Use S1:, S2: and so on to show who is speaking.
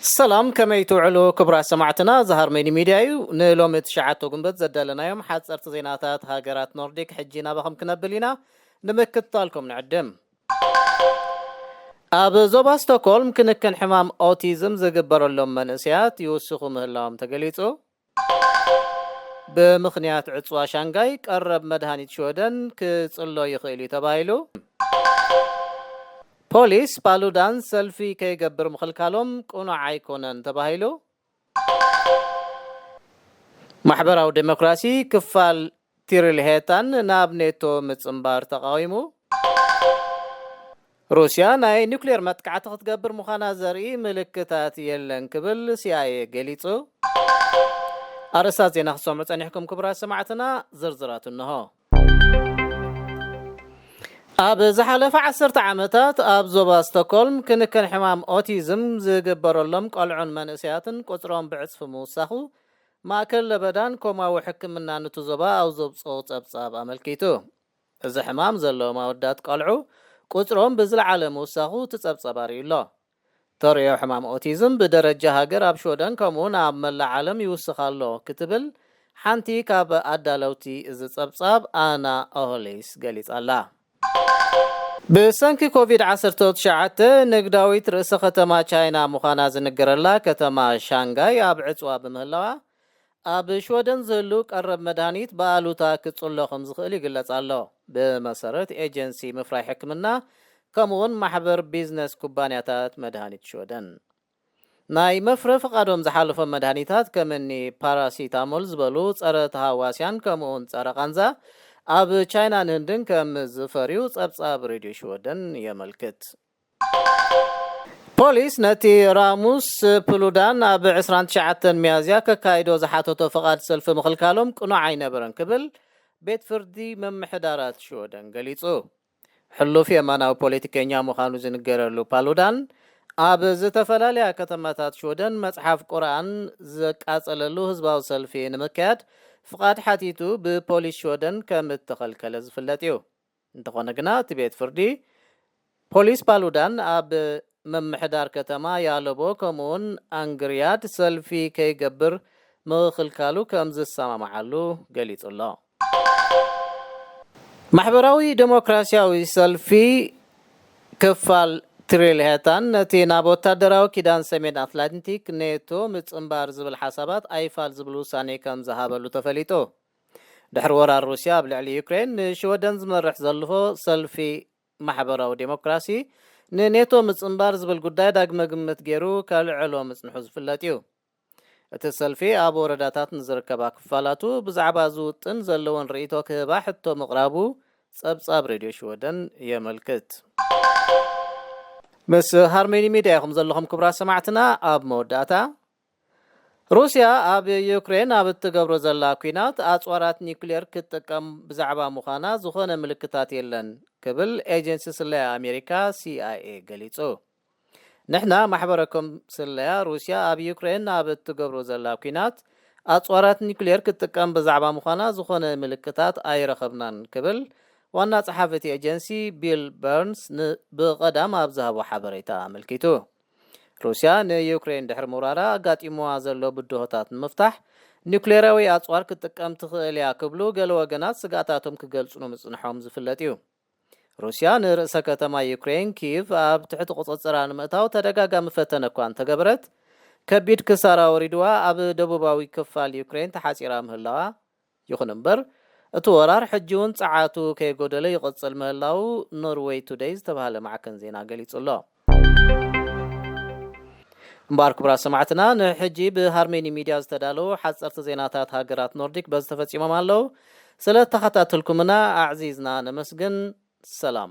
S1: ሰላም ከመይ ትውዕሉ ክቡራት ሰማዕትና እዚ ሃርመኒ ሚድያ እዩ ንሎሚ ትሽዓተ ጉንበት ዘዳለናዮም ሓፀርቲ ዜናታት ሃገራት ኖርዲክ ሕጂ ናባኹም ክነብል ኢና ንምክትታልኩም ንዕድም ኣብ ዞባ ስቶኮልም ክንክን ሕማም ኦቲዝም ዝግበረሎም መንእሰያት ይውስኹ ምህላዎም ተገሊጹ ብምኽንያት ዕጽዋ ሻንጋይ ቀረብ መድሃኒት ሽወደን ክጽሎ ይኽእል'ዩ ተባሂሉ። ፖሊስ ፓሉዳን ሰልፊ ከይገብር ምኽልካሎም ቅኑዕ ኣይኮነን ተባሂሉ። ማሕበራዊ ደሞክራሲ ክፋል ትሪልሄታን ናብ ኔቶ ምጽንባር ተቓዊሙ። ሩስያ ናይ ኒኩሌር መጥቃዕቲ ክትገብር ምዃና ዘርኢ ምልክታት የለን ክብል ሲኣይኤ ገሊጹ። ኣርእስታት ዜና ክትሰምዑ ጸኒሕኩም ክቡራት ሰማዕትና፣ ዝርዝራቱ እነሆ። ኣብ ዝሓለፈ ዓሰርተ ዓመታት ኣብ ዞባ ስቶኮልም ክንክን ሕማም ኦቲዝም ዝግበረሎም ቆልዑን መንእሰያትን ቁጽሮም ብዕጽፊ ምውሳኹ ማእከል ለበዳን ኮማዊ ሕክምናን እቲ ዞባ ኣብ ዘውጽኦ ጸብጻብ ኣመልኪቱ። እዚ ሕማም ዘለዎም ኣወዳት ቘልዑ ቍጽሮም ብዝለዓለ ምውሳኹ እቲ ጸብጻብ ኣርእዩ'ሎ። ተርእዮ ሕማም ኦቲዝም ብደረጃ ሃገር ኣብ ሽወደን ከምኡ'ውን ኣብ መላእ ዓለም ይውስኽ ኣሎ ክትብል ሓንቲ ካብ ኣዳለውቲ እዚ ጸብጻብ ኣና ኦሆሊስ ገሊጻ'ላ። ብሰንኪ ኮቪድ ዓሰርተ ትሽዓተ ንግዳዊት ርእሰ ከተማ ቻይና ምዃና ዝንገረላ ከተማ ሻንጋይ ኣብ ዕጽዋ ብምህላዋ፣ ኣብ ሽወደን ዝህሉ ቀረብ መድሃኒት ብኣሉታ ክጽሎ ከምዝኽእል ይግለጽ ኣሎ። ብመሰረት ኤጀንሲ ምፍራይ ሕክምና ከምኡ'ውን ማሕበር ቢዝነስ ኩባንያታት መድሃኒት ሽወደን። ናይ መፍረ ፍቓዶም ዝሓለፎም መድሃኒታት ከም እኒ ፓራሲታሞል ዝበሉ ፀረ ተሃዋስያን ከምኡውን ፀረ ቃንዛ ኣብ ቻይናን ህንድን ከም ዝፈርዩ ፀብፃብ ሬድዮ ሽወደን የመልክት። ፖሊስ ነቲ ራሙስ ፕሉዳን ኣብ ዕስራን ትሽዓተን ሚያዝያ ከካይዶ ዝሓተቶ ፍቓድ ሰልፊ ምኽልካሎም ቅኑዕ ኣይነበረን ክብል ቤት ፍርዲ ምምሕዳራት ሽወደን ገሊፁ። ሕሉፍ የማናዊ ፖለቲከኛ ምዃኑ ዝንገረሉ ፓሉዳን፣ ኣብ ዝተፈላለያ ከተማታት ሽወደን መጽሓፍ ቁርኣን ዘቃጸለሉ ህዝባዊ ሰልፊ ንምክያድ ፍቓድ ሓቲቱ ብፖሊስ ሽወደን ከም እተኸልከለ ዝፍለጥ እዩ። እንተኾነ ግና እቲ ቤት ፍርዲ፣ ፖሊስ ፓሉዳን ኣብ። ምምሕዳር ከተማ ያለቦ ከምኡውን ኣንግርያድ ሰልፊ ከይገብር ምኽክልካሉ ከም ዝሰማማዓሉ ገሊጹ ኣሎ። ማሕበራዊ ደሞክራሲያዊ ሰልፊ ክፋል ትሪልሄታን ነቲ ናብ ወታደራዊ ኪዳን ሰሜን ኣትላንቲክ፣ ኔቶ፣ ምጽንባር ዝብል ሓሳባት ኣይፋል ዝብል ውሳኔ ከም ዝሃበሉ ተፈሊጡ። ድሕሪ ወራር ሩስያ ኣብ ልዕሊ ዩክሬን ንሽወደን ዝመርሕ ዘልሆ ሰልፊ ማሕበራዊ ዴሞክራሲ ንኔቶ ምጽንባር ዝብል ጉዳይ ዳግመ ግምት ገይሩ ከልዕሎ ምጽንሑ ዝፍለጥ እዩ። እቲ ሰልፊ ኣብ ወረዳታት ንዝርከባ ክፋላቱ ብዛዕባ እዚ ውጥን ዘለወን ርእይቶ ክህባ ሕቶ ምቕራቡ ጸብጻብ ሬድዮ ሽወደን የመልክት። ምስ ሃርመኒ ሚድያ ኢኹም ዘለኹም ክቡራት ሰማዕትና ኣብ መወዳእታ። ሩስያ ኣብ ዩክሬን ኣብ እትገብሮ ዘላ ኲናት ኣጽዋራት ኒዩክሌር ክትጥቀም ብዛዕባ ምዃና ዝኾነ ምልክታት የለን ክብል ኤጀንሲ ስለያ ኣሜሪካ ሲኣይኤ ገሊጹ። ንሕና ማሕበረኮም ስለያ ሩስያ ኣብ ዩክሬን ኣብ እትገብሮ ዘላ ኲናት ኣጽዋራት ኒዩክሌር ክትጥቀም ብዛዕባ ምዃና ዝኾነ ምልክታት ኣይረኸብናን ክብል ዋና ጸሓፊ እቲ ኤጀንሲ ቢል በርንስ ብቐዳም ኣብ ዝሃቦ ሓበሬታ ኣመልኪቱ። ሩስያ ንዩክረይን ድሕሪ ምውራራ ኣጋጢምዋ ዘሎ ብድሆታት ንምፍታሕ ኒዩክሌራዊ ኣጽዋር ክትጥቀም ትኽእል እያ ክብሉ ገለ ወገናት ስግኣታቶም ክገልጹ ምጽንሖም ዝፍለጥ እዩ። ሩስያ ንርእሰ ከተማ ዩክረይን ኪቭ ኣብ ትሕቲ ቁጽጽራ ንምእታው ተደጋጋሚ ፈተነ እኳ እንተገበረት ከቢድ ክሳራ ወሪድዋ ኣብ ደቡባዊ ክፋል ዩክረይን ተሓጺራ ምህላዋ ይኹን እምበር፣ እቲ ወራር ሕጂ'ውን ጸዓቱ ከይጎደለ ይቕጽል ምህላዉ ኖርወይ ቱደይ ዝተባህለ ማዕከን ዜና ገሊጹ ኣሎ። እምበኣር ክቡራት ሰማዕትና፣ ንሕጂ ብሃርሜኒ ሚድያ ዝተዳለዉ ሓጸርቲ ዜናታት ሃገራት ኖርዲክ በዚ ተፈጺሞም ኣለዉ። ስለ ተኸታተልኩምና ኣዕዚዝና ነመስግን። ሰላም።